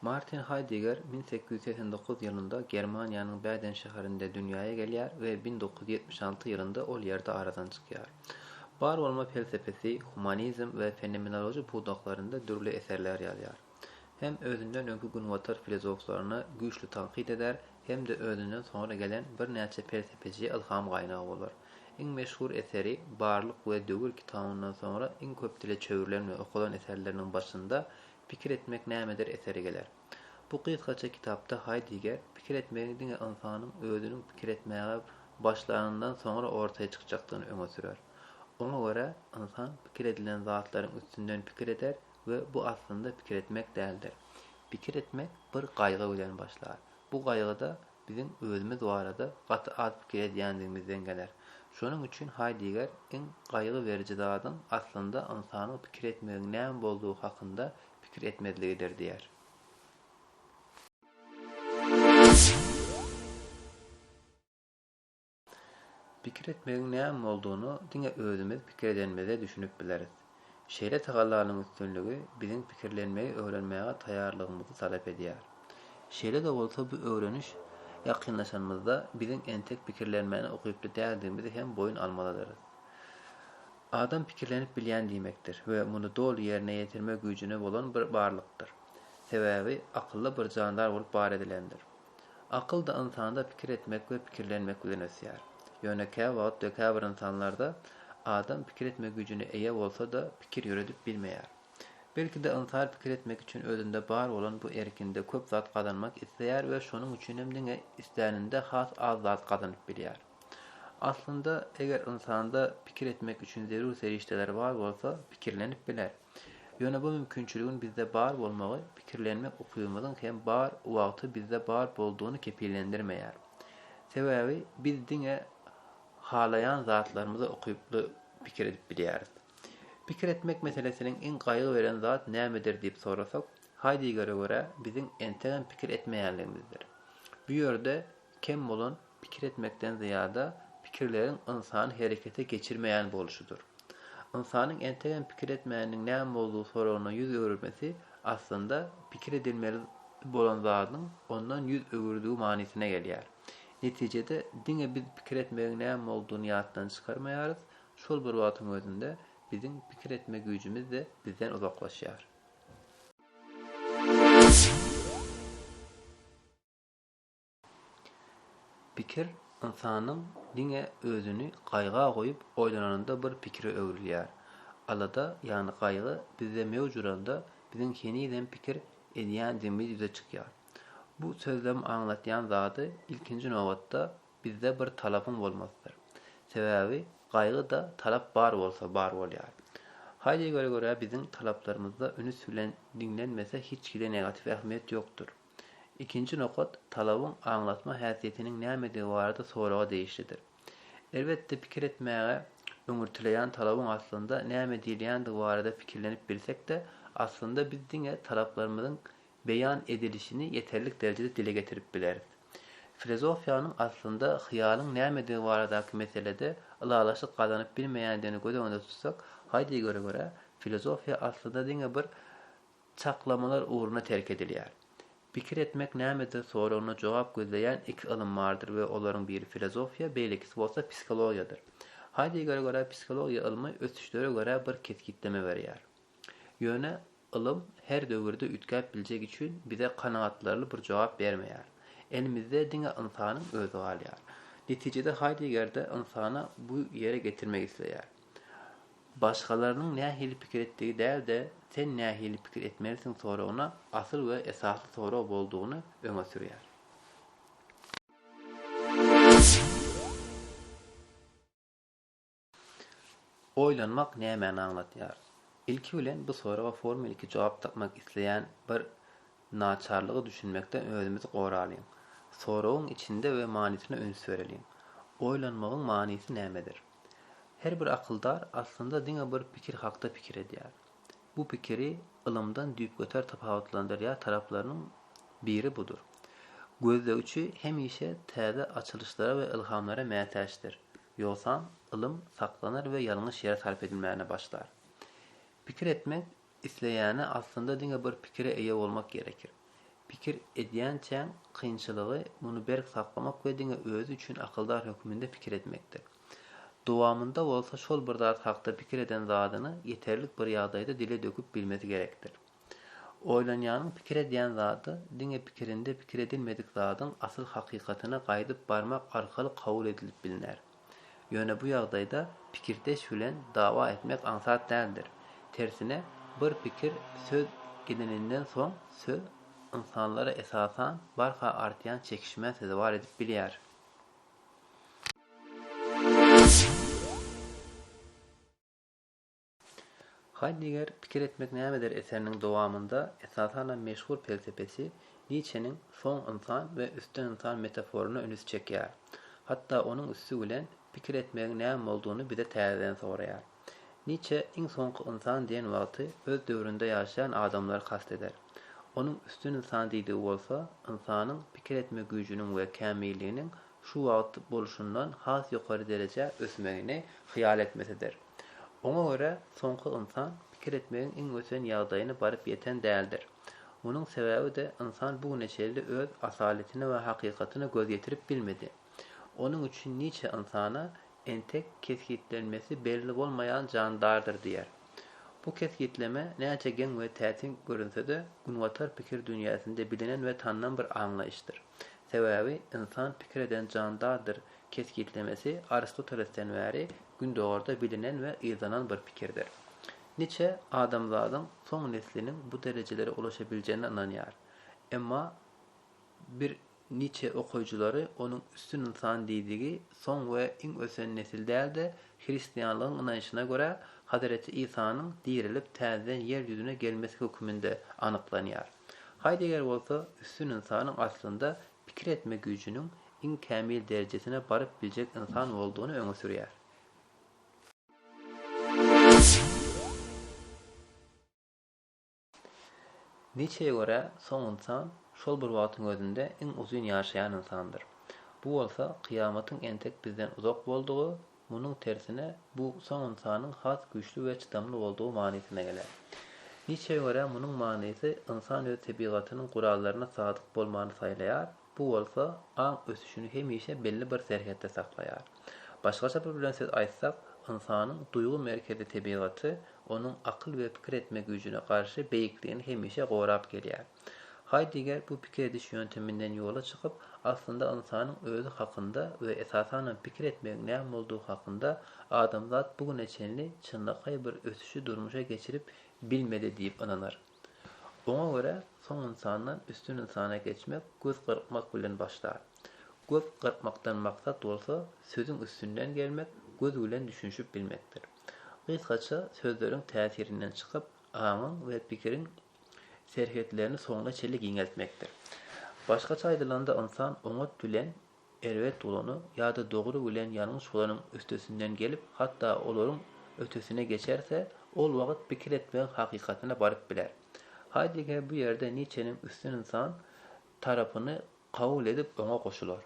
Martin Haýdeger 1889 ýylynda Germaniýanyň Bäden şäherinde dünýäe gelýär we 1976 ýylynda ol ýerde aradan çykýar. Bar bolma pelsepesi, humanizm we fenomenologiýa pudaklarynda dürli eserler ýazýar. hem özünden öňki günbatar filozoflaryna güýçli tankyt eder, hem-de özünden soňra gelen birnäçe pelsepeçiye ylham gaýnagy bolar. Iň meşhur eseri Barlyk we döwür kitabyndan soňra iň köp dile çöwrülen we okalan eserleriniň başynda Pikir etmek nämedir eseri geler. Bu gysgaça kitapda Haýdiger pikir etmegiň diňe ynsanyň özüniň pikir etmäge başlanyndan soňra ortaýa çykjakdygyny öňe sürer. Oňa görä, ynsan pikir edilen zatlaryň üstünden pikir eder, we bu aslynda pikir etmek däldir. Pikir etmek bir gaýgy bilen başlar. Bu gaýgy-da biziň özümiz barada gaty az pikir edýändigimizden geler. Şonuň üçin Haýdiger iň gaýgy beriji zadyň aslynda ynsanyň pikir etmegiň näme boldugy hakynda pikir etmezligidir diýer. Pikir etmegiň näme boldugyny diňe özümiz pikir edenimizde düşünip bileris. Şeýle tagallanyň üstünligi biziň pikirlenmegi öwrenmäge taýýarlygymyzy talap edýär. Şeýle-de bolsa bu öwreniş ýakynlaşanymyzda biziň entek pikirlenmäne ukyply däldigimizi hem boýun almalydyrys. Adam pikirlenip bilýän diýmekdir we muny doly ýerine ýetirme güýjüne bolan bir barlykdyr. Sebäbi akylly bir jandar bolup bar edilendir. Akyl-da ynsanda pikir etmek we pikirlenmek bilen ösýär. Ýöne käwagt we käbir ynsanlarda adam pikir etme güýjüne eýe bolsa-da, pikir ýöredip bilmeýär. Belki-de ynsan pikir etmek üçin özünde bar bolan bu erkinde köp zat gazanmak isleýär we şonuň üçinem diňe isläninde has az zat gazanyp bilýär. Aslynda, eger ynsanda pikir etmek üçin zerur serişdeler bar bolsa, pikirlenip biler. Ýöne bu mümkinçiligiň bizde bar bolmagy pikirlenmek ukybymyzyň hem bar wagty bizde bar boldugyny kepillendirmeýär. Sebäbi biz diňe halaýan zatlarymyzy ukyply pikir edip bilýäris. Pikir etmek meselesiniň iň gaýgy beren zat nämedir diýip sorasak, Haýdegere görä biziň entegem pikir etmeýänligimizdir. Bu ýerde kem bolan Pikir etmekden zyýada, pikirleriň ynsany herekete geçirmeýän bolşudyr. Ynsanyň entegem pikir etmäniň näme boldugy soragyna ýüz öwürmesi, aslynda, pikir edilmeli bolan zadyň ondan ýüz öwürdigi manysyna gelýär. Netijede, diňe biz pikir etmegiň näme boldugyny ýatdan çykarmaýarys, şol bir wagtyň özünde, biziň pikir etme güýjümiz-de bizden uzaklaşýar. Pikir ynsanyň diňe özüni gaýga goýup oýlananda bir pikire öwrülýär. Alada ýagny gaýgy bizde möwç uranda biziň henizem pikir edýändigimiz ýüze çykýar. Bu sözlem aňlatýan zady ilkinji nobatda bizde bir talapyň bolmasydyr. Sebäbi gaýgyda talap bar bolsa bar bolýar. Haýdegere görä biziň talaplarymyzda ünüs bilen diňlenmese hiç hili negatiw ähmiýet ýokdur. Ikinji nokat talabyň aňlatma häsiýetiniň nämedigi barada soraga degişlidir. Elbetde pikir etmäge öňürtileýän talabyň aslynda näme diýilýändigi barada pikirlenip bilsek-de, aslynda biz diňe talaplarymyzyň beýan edilişini ýeterlik derejede dile getirip bileris. Filozofiýanyň aslynda hyýalyň nämedigi baradaky meselede ylalaşyk gazanyp bilmeýändigini göz öňünde tutsak, haýdyýgöre görä, filozofiýa aslynda diňe bir Çaklamalar ugruna terk edilýär. Pikir etmek nämedir soragyna jogap gözleýän iki ylym bardyr we olaryň biri filozofiýa, beýlekisi bolsa psihologiýadyr. Haýdeggere görä psihologiýa ylmy ösüşlere görä bir kesgitleme berýär. Ýöne ylym her döwürde üýtgäp biljegi üçin bize kanagatlarly bir jogap bermeýär. Elimizde diňe ynsanyň özi galýar. Netijede Haýdeggerde ynsana bu ýere getirmek isleýär. Başgalarynyň nähili pikir etdigi däl-de, sen nähili pikir etmelisiň soragyna asyl we esasy sorag boldugyny öňe sürýär. Oýlanmak nämäni aňladýar? Ilki bilen bu soraga formeliki jogap tapmak isleýän bir naçarlyga düşünmekden özümizi goralyň. Soragyň içinde we manysyna üns bereliň. Oýlanmagyň manysy nämedir? Her bir akyldar aslynda diňe bir pikir hakda pikir edýär. Bu pikiri ylymdan düýpgöter tapawutlandyrýar taraplarynyň biri budur. Gözlegiçi hemişe täze açylyşlara we ylhamlara mätäçdir, ýogsam ylym saklanar we ýalňyş ýere sarp edilmäne başlar. Pikir etmek Isleýäne aslynda diňe bir pikire eýe bolmak gerekir. Pikir edýänçäň kynçylygy muny berk saklamak we diňe özi üçin akyldar hökmünde pikir etmekdir. Dowamynda bolsa şol bir zat hakda pikir eden zadyny ýeterlik bir ýagdaýda dile döküp bilmesi gerekdir. Oýlanýanyň pikir edýän zady diňe pikirinde pikir edilmedik zadyň asyl hakykatyna gaýdyp barmak arkaly kabul edilip bilner. Ýöne bu ýagdaýda pikirdeş bilen dawa etmek aňsat däldir. Tersine, bir pikir, söz edininden soň, söz ynsanlara esasan barha artýan çekişmä sezewar edip bilýär. Haýdegger Pikir etmek nämedir eseriniň dowamynda esasanam meşhur pelsepesi Niçeniň soň ynsan we üstten ynsan metaforyna ünüs çekýär. Hatda onuň üsti bilen pikir etmegiň näme boldugyny bize täzeden soraýar. Niçe iň soňky ynsan diýen wagty öz döwründe ýaşaýan adamlary kast eder. Onuň üstün ynsan diýdigi bolsa ynsanyň pikir etme güýjüniň we kämilliginiň şu wagt bolşundan has ýokary derejä ösmegini hyýal etmesidir. Oňa görä, soňky ynsan pikir etmegiň iň ösen ýagdaýyna baryp ýeten däldir. Munuň sebäbi-de, ynsan bu güne çenli öz asaletine we hakykatyna göz ýetirip bilmedi. Onuň üçin Niçe ynsana entek kesgitlenmesi belli bolmaýan jandardyr diýýär. Bu kesgitleme näçe geň we täsin görünse-de, günbatar pikir dünýäsinde bilinen we tanylan bir aňlaýyşdyr. Sebäbi ynsan pikir eden jandardyr kesgitlemesi Aristotelesden bäri Gündogarda bilinen we yzlanan bir pikirdir. Niçe adamzadyň soň nesliniň bu derejelere ulaşabiljegine ynanýar. Emma bir Niçe okyjylary onuň üstün ynsan diýdigi soň we iň ösen nesil däl-de, hristianlygyň ynanşyna görä, Hazreti Isanyň dirilip täzeden ýer ýüzüne gelmesi höküminde anyklanýar. Haýdeger bolsa üstün ynsanyň aslynda pikir etme güýjüniň iň kämil derejesine baryp biljek ynsan boldugyny öňe sürýär. Niçeye görä soň ynsan şol bir wagtyň özünde iň uzyn ýaşaýan ynsandyr. Bu bolsa kyýamatyň entek bizden uzak boldugy Munuň tersine, bu soň ynsanyň has güýçli we çydamly boldugy manysyna geler. Nitşe görä munuň manysy ynsan öz tebigatynyň gurallaryna sadyk bolmany saýlaýar, bu bolsa aň ösüşini hemişe belli bir serhetde saklaýar. Başgaça bir bilen söz aýtsak, ynsanyň duýgy merkezi tebigaty onuň akyl we pikir etme güýjüne garşy beýikligini hemişe gorap gelýär. Haýdeger bu pikir ediş ýönteminden ýola çykyp, aslynda ynsanyň özi hakynda we esasanam pikir etmegiň näme boldugy hakynda adamzat bu güne çenli çynlakaý bir ösüşi durmuşa geçirip bilmedi diýip ynanar. Oňa görä, soň ynsandan üstün ynsana geçmek göz gyrpmak bilen başlar. Göz gyrpmakdan maksat bolsa sözüň üstünden gelmek, göz bilen düşünişip bilmekdir. Gysgaça sözleriň täsirinden çykyp, aňyň we pikiriň serhetlerini soňuna çenli giňeltmekdir. Başgaça aýdylanda, ynsan oňat bilen erbet bolany ýa-da dogry bilen ýalňyş bolanyň üstesinden gelip, hatda olaryň ötesine geçerse, ol wagt pikir etmegiň hakykatyna baryp biler. Haýdegger bu ýerde Niçeniň üstün ynsan tarapyny kabul edip, oňa goşular.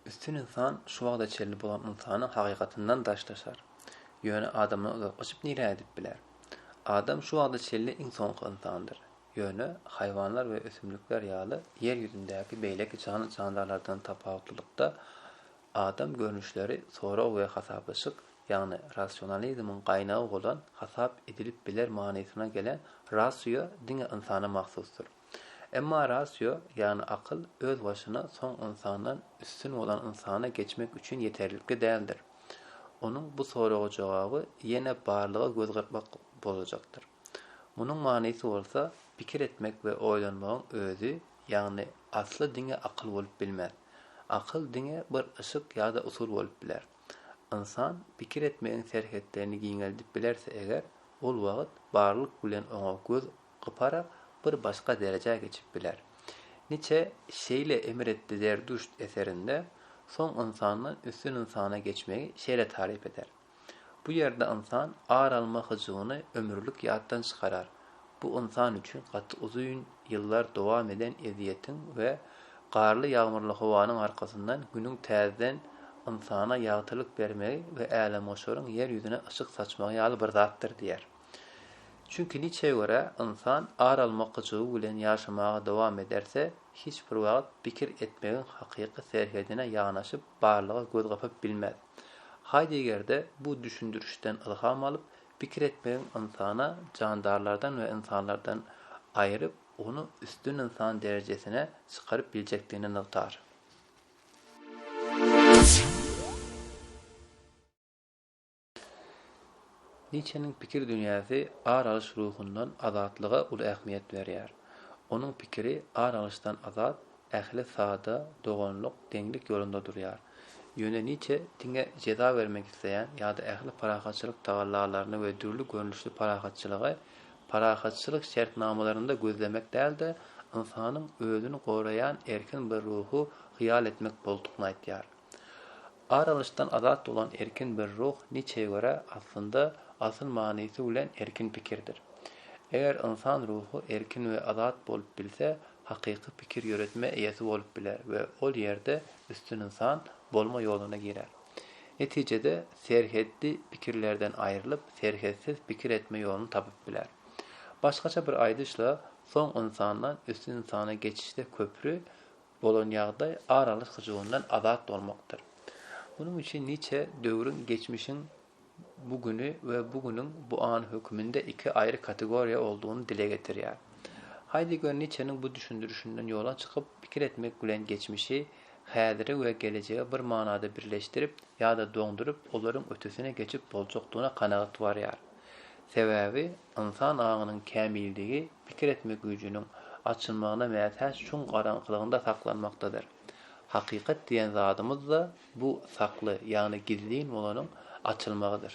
Üstün ynsan şu wagta çenli bolan ynsanyň hakykatyndan daşlaşar. Ýöne adamdan uzak gaçyp nirä gidip biler? Adam şu wagta çenli iň soňky ynsandyr. Ýöne, haýwanlar we ösümlikler ýaly ýer ýüzündäki beýleki janly-jandarlardan tapawutlylykda, adam görnüşleri sorag we hasaplaşyk, ýagny rasionalizmiň gaýnagy bolan hasap edilip biler manysyna gelen rasio diňe ynsana mahsusdyr. Emma rasio, ýagny akyl, öz başyna soň ynsandan üstün bolan ynsana geçmek üçin ýeterlikli däldir. Onuň bu soraga jogaby ýene barlyga göz gyrpmak bolajakdyr. Munuň manysy bolsa, pikir etmek we oýlanmagyň özi, ýagny asly diňe akyl bolup bilmez. Akyl diňe bir yşyk ýa-da usul bolup biler. Ynsan pikir etmegiň serhetlerini giňeldip bilerse eger, ol wagt barlyk bilen oňa göz gypara bir başga derejä geçip biler. Niçe şeýle emr etdi Zerdüşt eserinde soň ynsandan üstün ynsana geçmegi şeýle taryp eder. Bu ýerde ynsan ar alma hyjuwyny ömürlik ýatdan çykarar, bu ynsan üçin gaty uzyn ýyllar dowam eden ezýetiň we garly-ýagmyrly howanyň arkasyndan Günüň täzeden ynsana ýagtylyk bermegi we älemgoşaryň ýer ýüzüne yşyk saçmagy ýaly bir zatdyr diýer. Çünki Nitşe görä, ynsan ar almak hyjuwy bilen ýaşamaga dowam ederse, hiç bir wagt pikir etmegiň hakyky serhedine ýanaşyp, barlyga göz gapyp bilmez. Haýdegger-de bu düşündirişden ylham alyp, pikir etmegiň ynsana jandarlardan we ynsanlardan aýryp, ony üstün ynsan derejesine çykaryp biljekdigini nygtar. Niçeniň pikir dünýäsi ar alyş ruhundan azatlyga uly ähmiýet berýär. Onuň pikiri ar alyşdan azat, ähli sada, doganlyk, deňlik ýolunda durýar. Ýöne Niçe diňe jeza bermek isleýän ýa-da ähli parahatçylyk tagallalaryny we dürli görnüşli parahatçylygy parahatçylyk şertnamalarynda gözlemek däl-de, ynsanyň özüni goraýan erkin bir ruhy hyýal etmek boldukny aýtýar. Ar alyşdan azat bolan erkin bir ruh Niçe görä, aslynda, asyl manysy bilen erkin pikirdir. Eger ynsan ruhy erkin we azat bolup bilse, hakyky pikir ýöretme eýesi bolup biler we ol ýerde üstün ynsan bolma ýoluna girer. Netijede, serhetli pikirlerden aýrylyp, serhetsiz pikir etme ýoluny tapyp biler. Başgaça bir aýdyşla, soň ynsandan üstün ynsana geçişde köpri bolan ýagdaý aralyş hyjuwyndan azat bolmakdyr. Munuň üçin niçe döwrüň, geçmişiň bu güni we bu günüň bu any höküminde iki aýry kategoriýa olduğyny dile getirýär. Haýdegger Niçeniň bu düşündirişinden ýola çykyp, pikir etmek bilen geçmişi, häziri we gelejegi bir manada birleşdirip ýa-da doňduryp, olaryň ötesine geçip boljakdygyna kanagat barýar. Sebäbi ynsan aňynyň kämilligi pikir etmek güýjüniň açylmagyna mätäç çuň garaňkylygynda saklanmakdadyr. Hakykat diýen zadymyz-da bu sakly, ýagny gizlin bolanyň açylmagydyr.